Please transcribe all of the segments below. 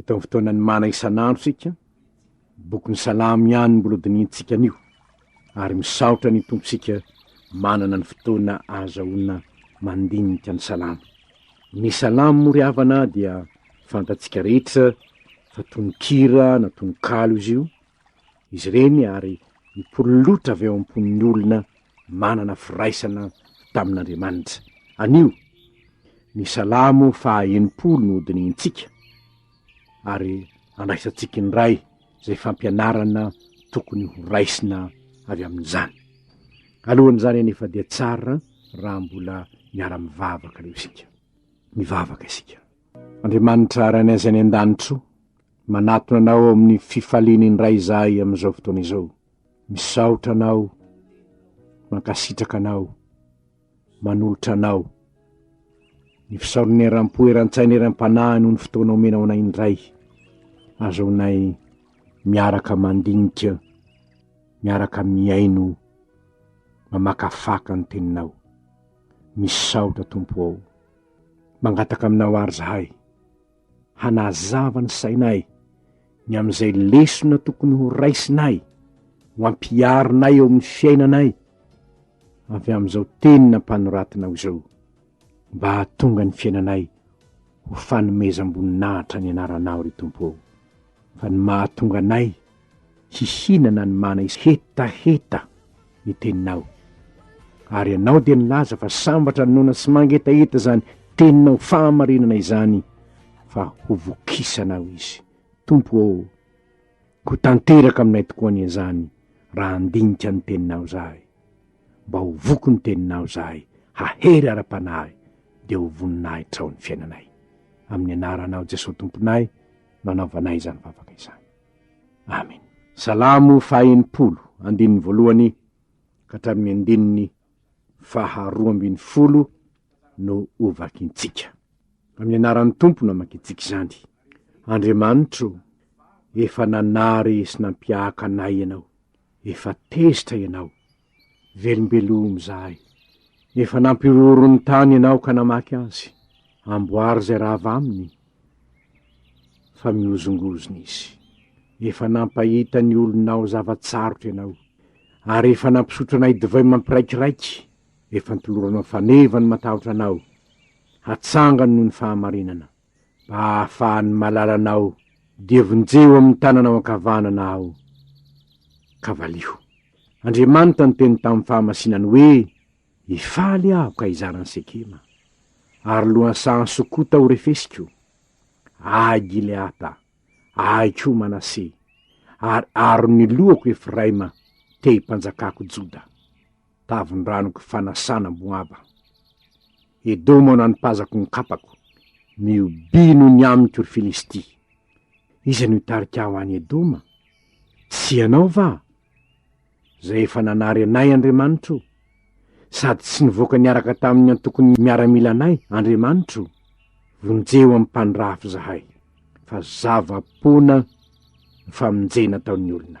Eto amin'ny fotoanan'ny mana isan'andro isika, bokin'ny Salamo ihany mbola dinihintsika anio, ary misaotra ny Tompontsika manana ny fotoana ahazahoana mandinika ny Salamo. Ny Salamo moa ry havana dia fantatsika rehetra fa tononkira na tononkalo izy io, izy ireny ary nipololotra avy ao am-pon'ny olona manana firaisana tamin'Andriamanitra. Anio, ny Salamo faha enimpolo no hodinihintsika, ary andraisantsika indray izay fampianarana tokony horaisina avy amin'izany. Alohan'izany anefa dia tsara raha mbola miara-mivavaka aloha isika. Mivavaka isika. Andriamanitra Ray anay any an-danitra o, manatona Anao ao amin'ny fifaliany indray izahay amin'izao fotoana izao. Misaotra Anao, mankasitraka Anao, manolotra Anao ny fisaorana eram-po, eran-tsaina, eram-panahy noho ny fotoana omenao anay indray. Azaonay miaraka mandinika, miaraka mihaino, mamakafaka ny Teninao. Misaotra Tompo ô. Mangataka aminao àry izahay, hanazava ny sainay ny amin'izay lesona tokony horaisinay ho ampiharinay eo amin'ny fiainanay avy amin'izao Teny nampanoratinao izao, mba hahatonga ny fiainanay ho fanomezam-boninahitra ny Anaranao, ry Tompo ô. Fa ny mahatonga anay hihinana ny mana is hetaheta ny teninao. Ary ianao dia nilaza fa sambatra ny noana sy mangetaheta izany teninao fahamarinana izany fa hovokisanao izy. Tompo ô, ho tanteraka aminay tokoa anie izany raha handinika ny teninao izahay. Mba ho voky ny teninao izahay, hahery ara-panahy, dia ho voninahitrao ny fiainanay. Amin'ny anaranao Jesoa Tomponay. nanaovanay izany vavaka izany. Amen. Salamo faha enimpolo, andininy voalohany ka hatramin'ny andininy faha roa ambin'ny folo no hovakintsika. Amin'ny anaran'ny Tompo namakintsika izany. Andriamanitro, efa nanary sy nampiahaka anay ianao, efa tezitra ianao, Velombelomy izahay. Efa nampihorohoro ny tany ianao ka namaky azy. Amboary izay rava aminy fa mihozongozona izy. Efa nampahita ny olonao zava-tsarotra ianao, ary efa nampisotro anay divay mampiraikiraiky, efa nitoloranao faneva ny matahotra anao, hatsangany noho ny fahamarinana. mba hahafahan'ny malalanao, dia vonjeo amin'ny tananao ankavanana aho, ka valiho. Andriamanitra niteny tamin'ny fahamasinany hoe, Hifaly aho ka hizara an'i Sekema, ary lohan'ny sahan'i Sokota ho refesiko. Ahy Gileata, ahy koa Manase, ary aron'ny lohako Efraima, te-himpanjakako Joda. tavin-dranoko fanasana Moaba. Edoma nanipazako ny kapako, mihobiano ny amiko, ry Filistia. Iza no hitarika ahy ho any Edoma? Tsy ianao va? Izay efa nanary anay Andriamanitro, sady tsy nivoaka niaraka tamin'ny antokon'ny miaramilanay Andriamanitro? Vonjeo amim-pandrafy izahay, fa zava-poana ny famonjena ataon'ny olona.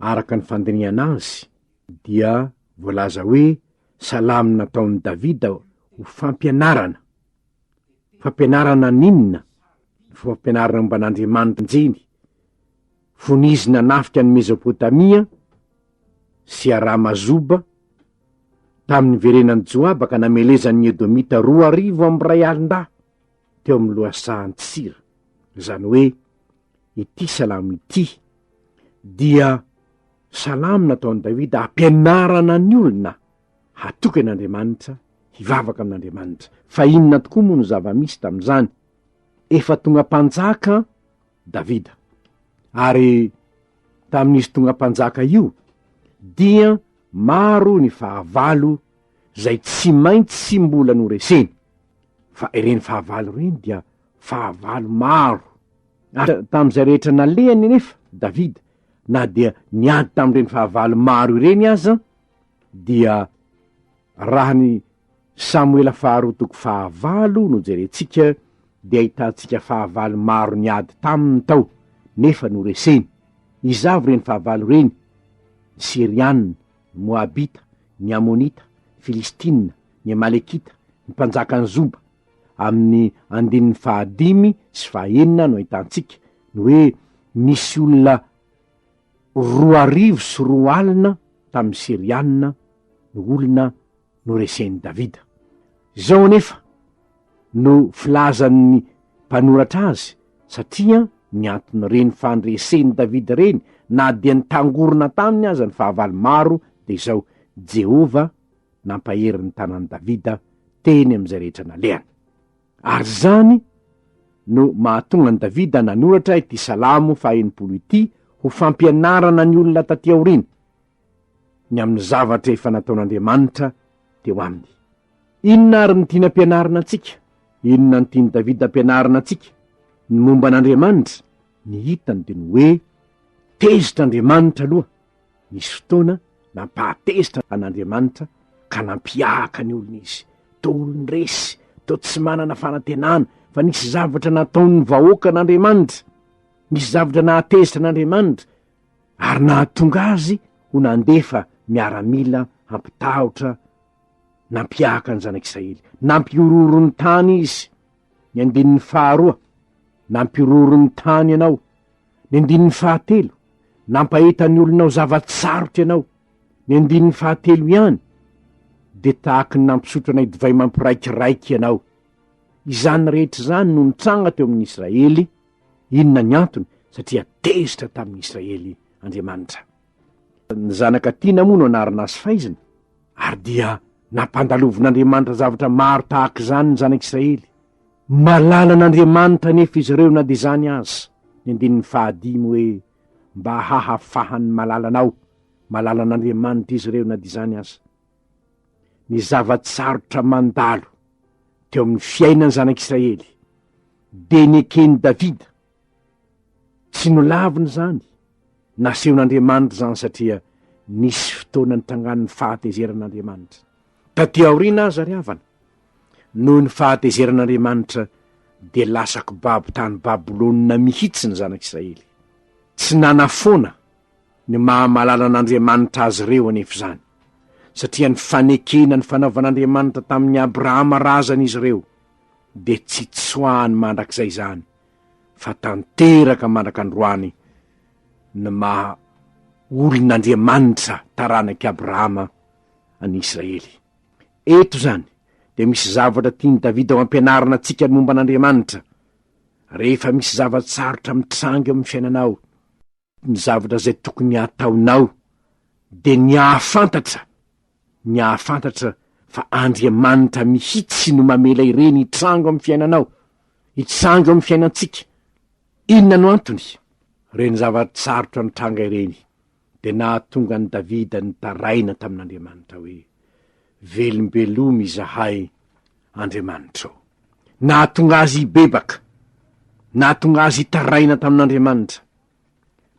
araka ny fandinihana azy dia voalaza hoe salamo nataon'i Davida ho fampianarana, fampianarana ny inona? ny fampianarana momba an'Andriamanitra njiny, fony izy nanafika an'i Mezopotamia sy Arama Zoba, tamin'ny niverenan'i Joaba ka namelezan'ny Edomita roa arivo amby iray alin-dahy. teo amin'ny lohasahan'i Tsira, izany hoe ity salamo ity dia salamo nataon'i Davida hampianarana ny olona hatoky an'Andriamanitra, hivavaka amin'Andriamanitra. Fa inona tokoa moa no zava-misy tamin'izany? Efa tonga mpanjaka Davida, ary tamin'izy tonga mpanjaka io dia maro ny fahavalo izay tsy maintsy mbola noreseny. Fa ireny fahavalo ireny dia fahavalo maro. Ary tamin'izay rehetra nalehany anefa Davida, na dia niady tamin'ireny fahavalo maro ireny aza, dia raha ny Samoela faharoa toko fahavalo no jerentsika, dia ahitantsika fahavalo maro niady taminy tao, nefa noreseny. Iza avy ireny fahavalo ireny? Ny Syriana. ny Moabita, ny Amonita, Filistina, ny Amalekita, ny mpanjakan'i Zoba. Amin'ny andininy fahadimy sy fahaenina no ahitantsika ny hoe nisy olona roa arivo sy roa alina tamin'ny Syrianina no olona noresen'i Davida. Izao anefa no filazan'ny mpanoratra azy, Satria nianton'ireny fandresen'i Davida ireny, na dia nitangorona taminy aza ny fahavalo maro, dia izao, Jehovah nampahery ny tanan'i Davida teny amin'izay rehetra nalehany. Ary izany no mahatonga an'i Davida nanoratra ity Salamo fahenimpolo ity ho fampianarana ny olona taty aoriana, ny amin'ny zavatra efa nataon'Andriamanitra teo aminy. Inona ary no tiana ampianarina antsika? Inona no tian'i Davida ampianarina antsika? Ny momba an'Andriamanitra, ny hitany dia ny hoe tezitra Andriamanitra aloha, nisy fotoana nampahatezitra an'Andriamanitra ka nampihahaka ny olony izy, toa olon-dresy, toa tsy manana fanantenana, fa nisy zavatra nataon'ny vahoakan'Andriamanitra, nisy zavatra nahatezitra an'Andriamanitra, ary nahatonga azy ho nandefa miaramila hampitahotra nampiahaka ny zanak'Israely. Nampihorohoro ny tany izy, ny andininy faharoa, nampihorohoro ny tany ianao, ny andininy fahatelo, nampahita ny olonao zava-tsarotra ianao, ny andininy fahatelo ihany, dia tahaky ny nampisotro anay divay mampiraikiraiky ianao. Izany rehetra izany no nitranga teo amin'ny Israely, Inona ny antony? Satria tezitra tamin'ny Israely Andriamanitra. Ny zanaka tiana moa no anarina azy faizina, ary dia nampandalovin'Andriamanitra zavatra maro tahaka izany ny zanak'Israely. Malala an'Andriamanitra anefa izy ireo na dia izany aza. Ny andininy fahadimy hoe, Mba hahafahan'ny malala anao, malala an'Andriamanitra izy ireo na dia izany aza. ny zava-tsarotra mandalo teo amin'ny fiainan'ny zanak'Israely, dia neken'i Davida. Tsy nolaviny izany, nasehon'Andriamanitra izany satria nisy fotoana nitrangan'ny fahatezeran'Andriamanitra. Tatỳ aoriana aza ry havana, noho ny fahatezeran'Andriamanitra, dia lasa kibabo tany Babylona mihitsy ny zanak'Israely. Tsy nanafoana. Ny maha malala an'Andriamanitra azy ireo anefa izany, satria ny fanekena ny fanaovan'Andriamanitra tamin'i Abrahama razana izy ireo, dia tsy tsoahany mandrakizay izany, fa tanteraka mandrak'androany ny maha olon'Andriamanitra taranak'i Abrahama an'i Israely. Eto izany dia misy zavatra tian'i Davida ho ampianarina antsika ny momba an'Andriamanitra, Rehefa misy zava-tsarotra mitranga eo amin'ny fiainanao, ny zavatra izay tokony hataonao, dia ny hahafantatra, ny hahafantatra fa Andriamanitra mihitsy no mamela ireny hitrango amin'ny fiainanao, hitrango amin'ny fiainantsika. Inona no antony? Ireny zava-tsarotra nitranga ireny dia nahatonga an'i Davida nitaraina tamin'Andriamanitra hoe, Velombelomy izahay, Andriamanitra ô! Nahatonga azy hibebaka, nahatonga azy hitaraina tamin'Andriamanitra.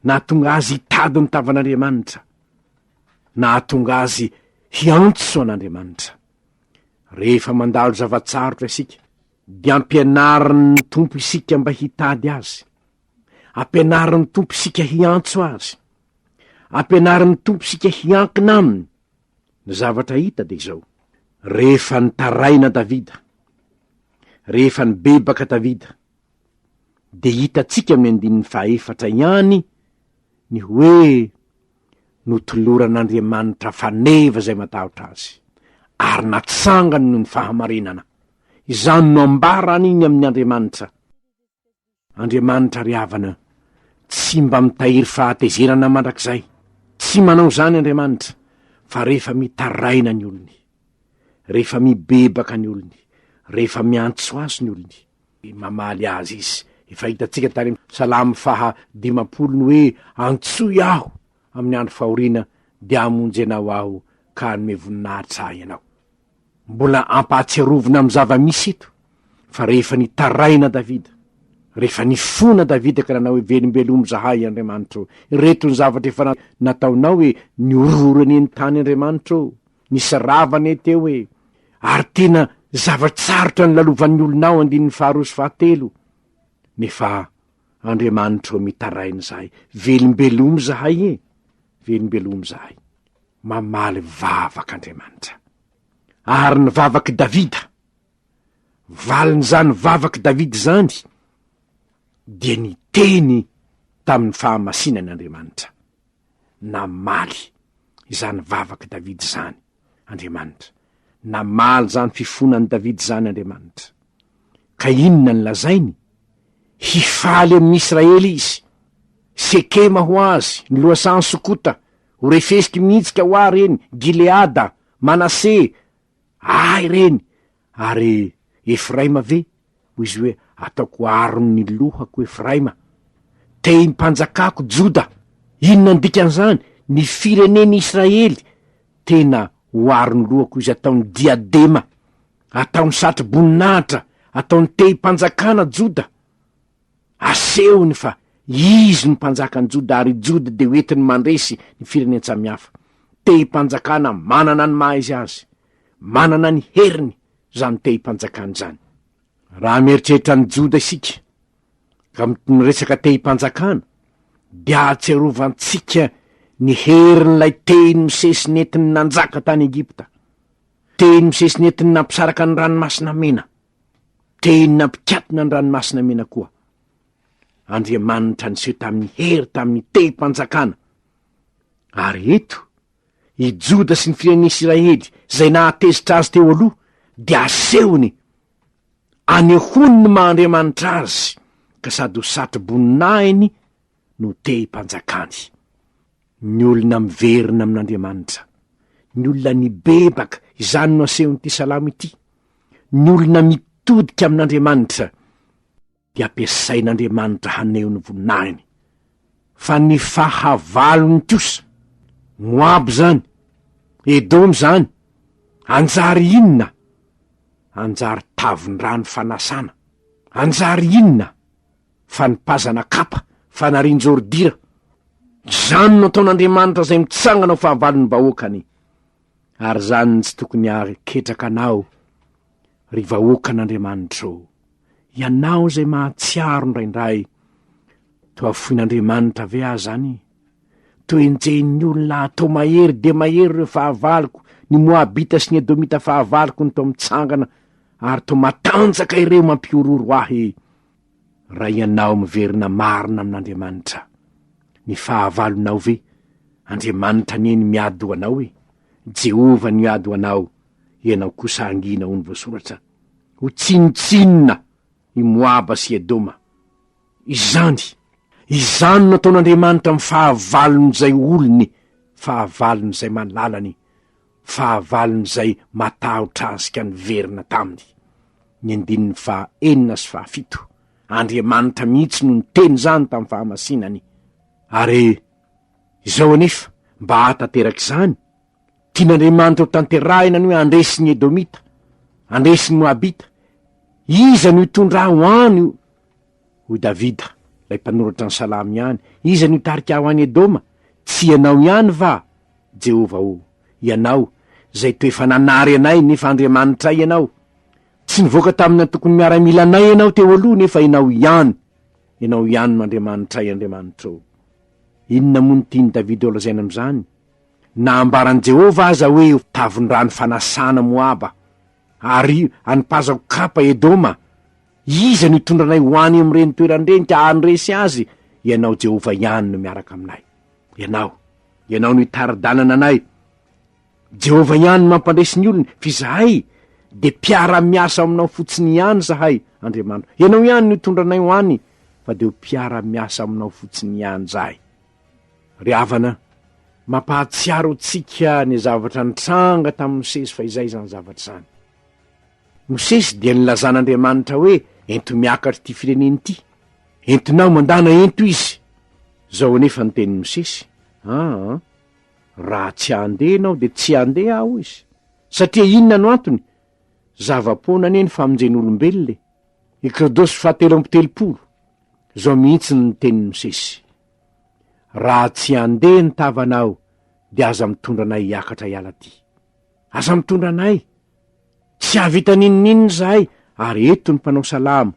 Nahatonga azy hitady ny tavan'Andriamanitra. Nahatonga azy hiantso an'Andriamanitra. Rehefa mandalo zava-tsarotra isika, dia ampianarin'ny Tompo isika mba hitady Azy. Ampianarin'ny Tompo isika hiantso Azy. Ampianarin'ny Tompo isika hiankina Aminy. Ny zavatra hita dia izao. Rehefa nitaraina Davida, rehefa nibebaka Davida, dia hitantsika amin'ny andininy fahaefatra ihany ny hoe notoloran'Andriamanitra faneva izay matahotra Azy, ary natsangany noho ny fahamarinana. Izany no ambara an'iny amin'ny Andriamanitra. Andriamanitra ry havana tsy mba mitahiry fahatezerana mandrakizay. Tsy manao izany Andriamanitra, fa rehefa mitaraina ny olony, rehefa mibebaka ny olony, rehefa miantso Azy ny olony, mamaly azy izy. Efa hitantsika tany amin'ny Salamo faha dimampolo ny hoe, Antsoy aho amin'ny andro fahoriana, dia hamonjy anao aho ka hanome voninahitra ahy ianao. Mbola ampahatsiarovina amin'ny zava-misy eto fa rehefa nitaraina Davida, rehefa nifona Davida ka nanao hoe, Velombelomy izahay, Andriamanitro, ireto ny zavatra efa nataonao e, nihorohoro anie ny tany Andriamanitro. Nisy rava anie teo e! Ary tena zava-tsarotra nilalovan'ny olona ao andininy faharoa sy fahatelo. Nefa Andriamanitra ô mitaraina izahay, velombelomy izahay e! Velombelomy izahay. Mamaly vavaka Andriamanitra. Ary ny vavak'i Davida, valin'izany vavak'i Davida izany dia niteny tamin'ny fahamasinany Andriamanitra. Namaly izany vavak'i Davida izany Andriamanitra. Namaly izany fifonan'i Davida izany Andriamanitra. Ka inona no lazainy? Hifaly amin'ny Israely izy. Sekema ho azy, ny lohasahan'i Sokota, ho refesiko mihitsy ka ho ahy ireny, Gileada, Manase, ahy ireny. Ary Efraima ve? Hoy izy hoe, Ataoko aron'ny lohako Efraima, tehim-panjakako Joda. Inona ny dikan'izany? Ny firenen'i Israely tena ho aron'ny lohako izy, ataony diadema, ataony satroboninahitra, ataony tehim-panjakana Joda. Asehony fa izy no mpanjaka an'i Joda ary i Joda dia hoentiny mandresy ny firenen-tsamihafa. Tehim-panjakana manana ny maha-izy azy. Manana ny heriny izany tehim-panjakana izany. Raha mieritreritra an'i Joda isika, ka mitonona resaka tehim-panjakana, dia ahatserovantsika ny herin'ilay tehiny misesy nentiny nanjaka tany Egypta, tehiny misesy nentiny nampisaraka ny Ranomasina Mena, tehiny nampikatona ny Ranomasina Mena koa. Andriamanitra niseho tamin'ny hery tamin'ny tehim-panjakana. Ary eto, I Joda sy ny firenen'Isiraely izay nahatezitra azy teo aloha dia asehony. Anehoany ny maha Andriamanitra azy ka sady ho satro-boninahiny no te himpanjakany. Ny olona miverina amin'Andriamanitra. Ny olona nibebaka, izany no asehon'ity salamo ity. Ny olona mitodika amin'Andriamanitra. dia ampiasain'Andriamanitra haneho ny voninahiny, fa ny fahavalony kosa, Moaba izany, Edoma izany, hanjary inona? Hanjary tavin-drano fanasana. Hanjary inona? Fanipazana kapa, fanarin-jordira. Izany no ataon'Andriamanitra izay mitsangana ho fahavalon'ny vahoakany. Ary izany no tsy tokony hahaketraka anao, Ry vahoakan'Andriamanitra ô, ianao izay mahatsiaro indraindray, toa foin'Andriamanitra ve aho izany? Toa enjehin'ny olona aho, toa mahery dia mahery ireo fahavaloko, ny Moabita sy ny Edomita fahavaloko no toa mitsangana, ary toa matanjaka ireo mampihorohoro ahy. Raha ianao miverina marina amin'Andriamanitra, ny fahavalonao ve? Andriamanitra anie ny miady ho anao e! Jehovah no hiady ho anao, Ianao kosa hangina ho ny voasoratra, ho tsinontsinona i Moaba sy Edoma. Izany, izany no ataon'Andriamanitra amin'ny fahavalon'izay olony, fahavalon'izay malalany, fahavalon'izay matahotra Azy ka niverina taminy. Ny andininy faha enina sy faha fito, Andriamanitra mihitsy no niteny izany tamin'ny fahamasinany. Ary izao anefa, mba hahatanteraka izany, Tian'Andriamanitra ho tanterahina ny hoe handresy ny Edomita, handresy ny Moabita. Iza no hitondra ahy ho any? Hoy Davida, ilay mpanoratra ny Salamo ihany, Iza no hitarika ahy ho any Edoma? Tsy Ianao ihany va, Jehovah ô? Ianao, izay toa efa nanary anay, nefa Andriamanitray Ianao. Tsy nivoaka tamin'ny antokon'ny miaramila anay Ianao teo aloha, nefa Ianao ihany, Ianao ihany no Andriamanitray, Andriamanitrao. Inona moa no tian'i Davida holazaina amin'izany? Na ambaran'i Jehovah aza hoe, 'Tavin-drano fanasana Moaba, ary anipazako kapa Edoma', iza no hitondra anay ho any amin'ireny toerana ireny ka handresy azy? Ianao Jehovah ihany no miaraka aminay. Ianao, ianao no hitari-dalana anay. Jehovah ihany no mampandresy ny olony, fa izahay dia mpiara-miasa aminao fotsiny ihany izahay, Andriamanitro. Ianao ihany no hitondra anay ho any, fa dia ho mpiara-miasa aminao fotsiny ihany izahay. Ry havana, mampahatsiaro antsika ny zavatra nitranga tamin'i Mosesy fa izay izany zavatra izany. Mosesy dia nilazan'Andriamanitra hoe, Ento miakatra ity firenena ity. Entinao mandana ento izy. Izao anefa ny tenin'i Mosesy, Aa, raha tsy handeha ianao dia tsy handeha aho, hoy izy. Satria inona no antony? Zava-poana anie ny famonjen'olombelona e! Ekrodosy fahatelo amby telopolo, Izao mihitsy no nitenin'i Mosesy, Raha tsy handeha ny tavanao, dia aza mitondra anay hiakatra hiala aty. Aza mitondra anay! Tsy hahavita n'inon'inona izahay, ary eto ny mpanao salamo,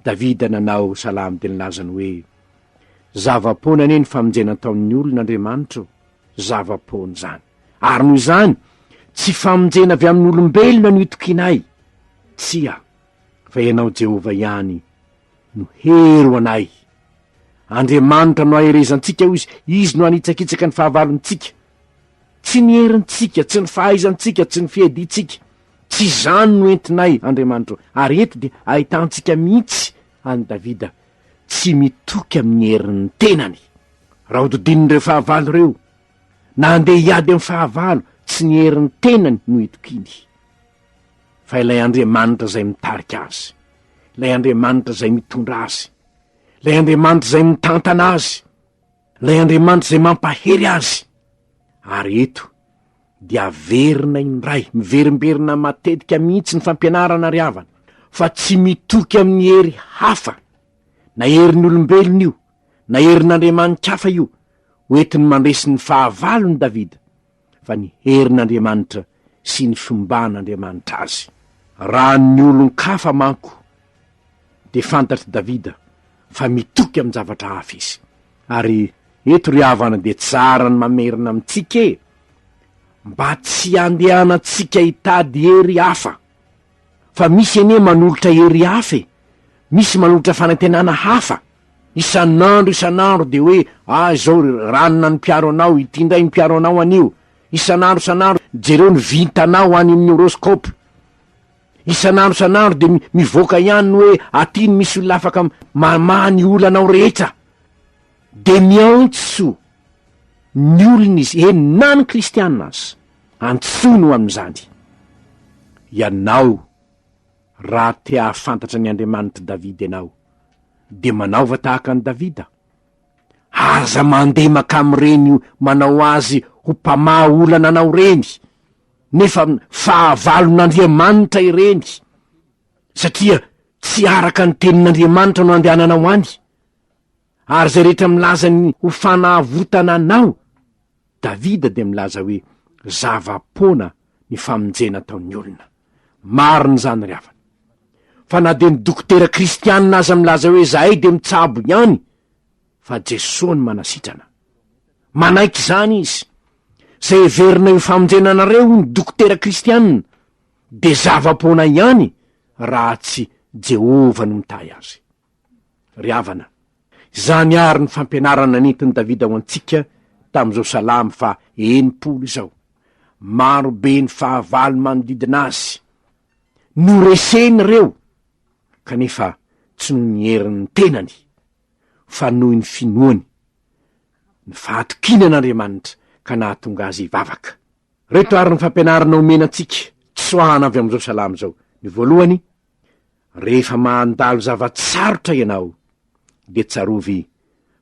Davida nanao salamo dia nilaza ny hoe, Zava-poana anie ny famonjena nataon'ny olona Andriamanitro, zava-poana izany. Ary noho izany, tsy famonjena avy amin'olombelona no itokianay. Tsia. fa ianao Jehovah ihany no hery ho anay. Andriamanitra no aherezantsika, hoy izy, izy no anitsakitsaka ny fahavalontsika. Tsy ny herintsika, tsy ny fahaizantsika, tsy ny fiadiantsika. Tsy izany no entinay, Andriamanitro. Ary eto dia ahitantsika mihitsy an'i Davida tsy mitoky amin'ny herin'ny tenany. Raha hodidin'ireo fahavalo ireo, na handeha hiady amin'ny fahavalo, tsy ny herin'ny tenany no itokiany. fa ilay Andriamanitra izay mitarika azy, ilay Andriamanitra izay mitondra azy, ilay Andriamanitra izay mitantana azy, ilay Andriamanitra izay mampahery azy. Ary eto dia averina indray, miverimberina matetika mihitsy ny fampianarana ry havana, fa tsy mitoky amin'ny hery hafa, na herin'ny olombelona io, na herin'andriamani-kafa io, ho entiny mandresy ny fahavalony Davida, fa ny herin'Andriamanitra sy ny fiomban'Andriamanitra azy. Raha ny olon-kafa manko, dia fantatr'i Davida fa mitoky amin-javatra hafa izy. Ary eto ry havana dia tsara ny mamerina amintsika e! mba tsy handehanantsika hitady hery hafa. Fa misy anie manolotra hery hafa e! Misy manolotra fanantenana hafa! Isan'andro isan'andro dia hoe ah izao ry ranona ny mpiaro anao, ity indray ny mpiaro anao anio! Isan'andro isan'andro jereo ny vintanao any amin'ny horoscope! Isan'andro isan'andro dia mivoaka ihany ny hoe aty no misy olona afaka mamaha ny olanao rehetra! Dia miantso ny olona izy, eny na ny kristiana aza! Antsoiny ho amin'izany ianao raha te hahafantatra ny Andriamanitr'i Davida ianao, dia manaova tahaka an'i Davida. Aza mandeha mankany amin'ireny manao azy ho mpamaha olana anao ireny, nefa fahavalon'Andriamanitra ireny, satria tsy araka ny tenin'Andriamanitra no andehananao any. ary izay rehetra milaza ny ho fanavotana anao, Davida dia milaza hoe, zava-poana ny famonjena ataon'ny olona. Marina izany ry havana. Fa na dia ny dokotera kristianina aza milaza hoe izahay dia mitsabo ihany, fa Jesoa no manasitrana. Manaiky izany izy. Izay heverinay ho famonjena anareo, hoy ny dokotera kristianina, dia zava-poana ihany raha tsy Jehovah no mitahy azy. Ry havana, izany àry ny fampianarana nentin'i Davida ho antsika tamin'izao salamo faha enimpolo izao. Maro be ny fahavalo manodidina azy. Noreseny ireo, kanefa tsy noho ny herin'ny tenany, fa noho ny finoany, ny fahatokiany an'Andriamanitra ka nahatonga azy hivavaka. Ireto àry ny fampianarana omena antsika tsoahana avy amin'izao salamo izao, Ny voalohany, Rehefa mandalo zava-tsarotra ianao, dia tsarovy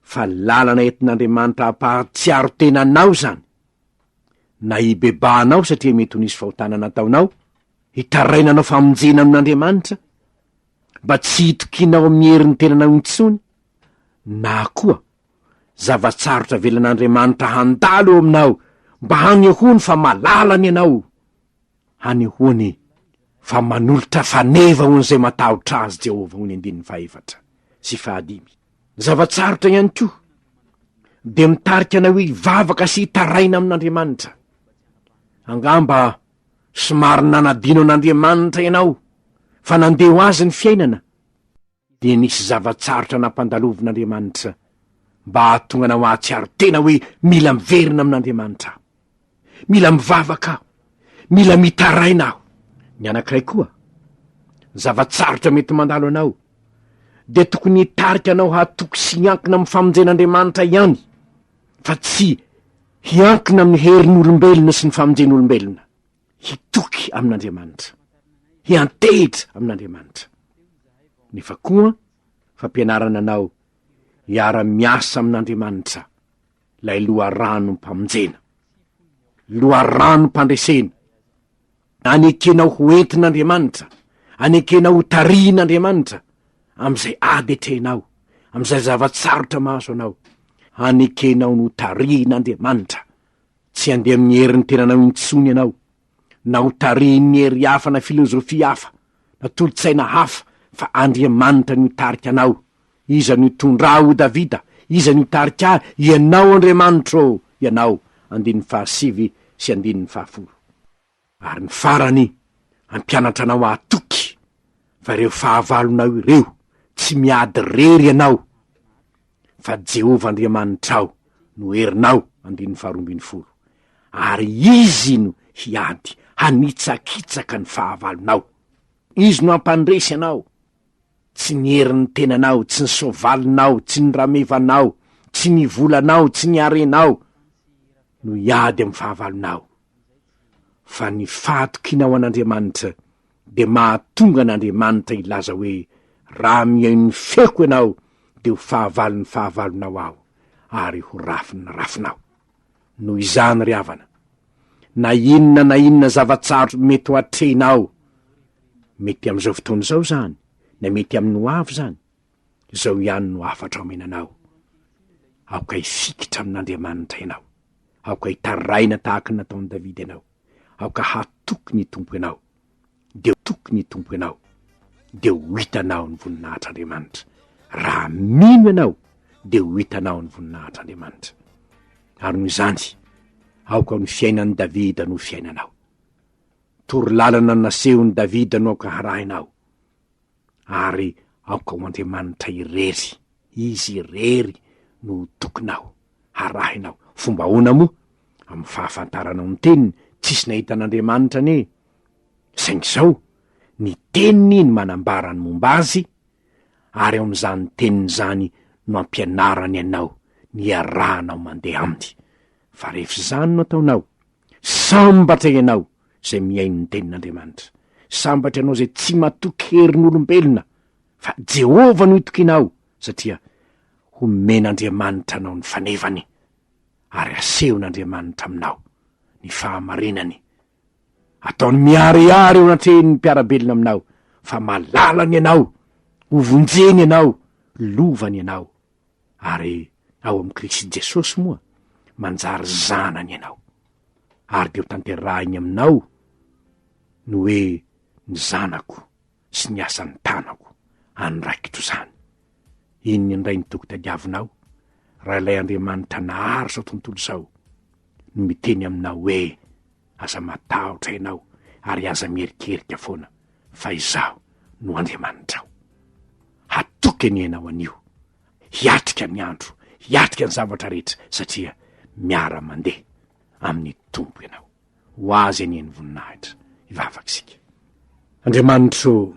fa lalana entin'Andriamanitra hampahatsiaro tena anao izany. Na hibebahanao satria mety ho nisy fahotana nataonao, hitaraina hanao famonjena amin'Andriamanitra, mba tsy hitokianao amin'ny herin'ny tenanao intsony, na koa zava-tsarotra avelan'Andriamanitra handalo eo aminao mba hanehoany fa malalany ianao, Hanehoany e, fa manolotra faneva ho an'izay matahotra azy Jehovah, hoy ny andininy fahefatra sy fahadimy. Ny zava-tsarotra ihany koa dia mitarika anay hoe hivavaka sy hitaraina amin'Andriamanitra. Angamba somary nanadino an'Andriamanitra ianao fa nandeha ho azy ny fiainana. dia nisy zava-tsarotra nampandalovin'Andriamanitra mba hahatonga anao hahatsiaro tena hoe mila miverina amin'Andriamanitra aho. Mila mivavaka aho. Mila mitaraina aho. Ny anankiray koa, ny zava-tsarotra mety mandalo anao dia tokony hitarika anao hatoky sy hiankina amin'ny famonjen'Andriamanitra ihany fa tsy hiankina amin'ny herin'olombelona sy ny famonjen'olombelona. hitoky amin'Andriamanitra, hiantehitra amin'Andriamanitra, nefa koa fampianarana anao hiara-miasa amin'Andriamanitra, ilay loharanom-pamonjena, loharanom-pandresena, anekenao ho entin'Andriamanitra, anekenao ho tarihin'Andriamanitra amin'izay ady atrehinao, amin'izay zava-tsarotra mahazo anao, anekenao ho tarihin'Andriamanitra. Tsy handeha amin'ny herin'ny tenanao intsony ianao, na ho tarihin'ny hery hafa na filozofia hafa, na tolo-tsaina hafa, fa Andriamanitra no hitarika anao. Iza no hitondra ahy, hoy Davida, iza no hitarika ahy? Ianao Andriamanitra ô! Ianao. Andininy fahasivy sy andininy fahafolo. Ary ny farany, hampianatra anao hahatoky fa ireo fahavalonao ireo tsy miady irery ianao fa Jehovah Andriamanitrao no herinao, andininy faharoa ambin'ny folo, ary Izy no hiady hanitsakitsaka ny fahavalonao. Izy no hampandresy anao, tsy ny herin'ny tenanao, tsy ny soavalinao, tsy ny ramevanao, tsy ny volanao, tsy ny harenao no hiady amin'ny fahavalonao. fa ny fahatokiana ho an'Andriamanitra dia mahatonga an'Andriamanitra hilaza hoe, Raha mihaino ny feoko ianao, dia ho fahavalon'ny fahavalonao aho, ary ho rafin'ny rafinao. Noho izany, ry havana, na inona na inona zava-tsarotra mety ho atrehinao, mety amin'izao fotoana izao izany, na mety amin'ny hoavy izany, Izao ihany no hafatra omena anao, Aoka hifikitra amin'Andriamanitra ianao, aoka hitaraina tahaka ny nataon'i Davida ianao, aoka hatoky ny Tompo ianao, dia ho toky ny Tompo ianao, dia ho hitanao ny voninahitr'Andriamanitra. Raha mino ianao, dia ho hitanao ny voninahitr'Andriamanitra. Ary noho izany, aoka ny fiainan'i Davida no ho fiainanao. Toro lalana nasehon'i Davida no aoka harahinao. ary aoka ho Andriamanitra irery, Izy irery no ho tokinao, harahinao. Fomba ahoana moa? Amin'ny fahafantaranao ny Teniny, tsisy nahita an'Andriamanitra anie. Saingy izao, ny Teniny no manambara ny momba Azy, ary ao amin'izany Teniny izany no ampianarany anao, ny iarahanao mandeha Aminy. Fa rehefa izany no ataonao, sambatra ianao, izay mihaino ny tenin'Andriamanitra. Sambatra ianao izay tsy matoky herin'olombelona, fa Jehovah no itokianao, satria homen'Andriamanitra anao ny fanevany, ary hasehon'Andriamanitra aminao ny fahamarinany. Ataony miharihary eo anatrehin'ny mpiara-belona aminao, fa malalany ianao, hovonjeny ianao, lovany ianao. ary ao amin'i Kristy Jesosy moa manjary zanany ianao, ary dia ho tanterahiny aminao ny hoe ny zanako sy ny asan'ny tanako any raikitro izany. Inona indray ny toky tadiavinao raha ilay Andriamanitra nahazo izao tontolo izao no miteny aminao hoe Aza matahotra ianao ary aza mierikerika foana fa Izaho no Andriamanitrao. Hatoky anie ianao anio. Hiatrika ny andro, hiatrika ny zavatra rehetra satria miara-mandeha amin'ny Tompo ianao. Ho Azy anie ny voninahitra. Hivavaka isika. Andriamanitro ô,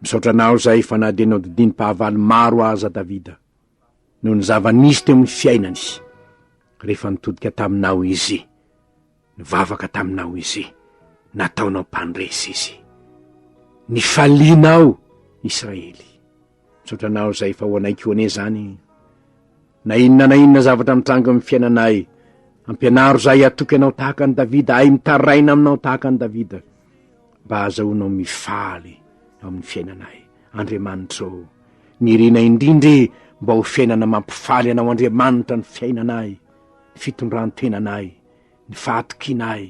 misaotra Anao izay fa na dia nodidinim-pahavalo maro aza Davida, noho ny zava-nisy teo amin'ny fiainany, rehefa nitodika taminao izy, nivavaka taminao izy, nataonao mpandresy izy. Nifalianao, Israely. Misaotra anao izay fa ho anay koa anie izany. Na inona na inona zavatra mitranga amin'ny fiainanay, ampianaro izay hatoky anao tahaka an'i Davida, ahy mitaraina aminao tahaka an'i Davida, mba hahazahoanao mifaly amin'ny fiainanay. Andriamanitra ô! Nirina indrindra e mba ho fiainana mampifaly anao Andriamanitra ny fiainanay, ny fitondran-tenanay, ny fahatokianay,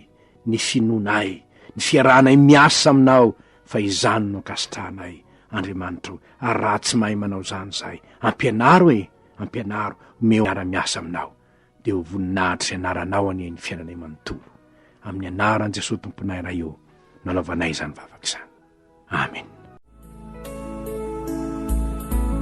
ny finoanay, ny fiarahanay miasa aminao fa izany no ankasitrahanay Andriamanitra o ary raha tsy mahay manao izany izahay ampianaro e, ampianaro omeo miara-miasa aminao dia ho voninahitra izay anaranao anie ny fiainanay manontolo, amin'ny anaran'i Jesoa Tomponay Ray ô no anaovanay izany vavaka izany. Amena.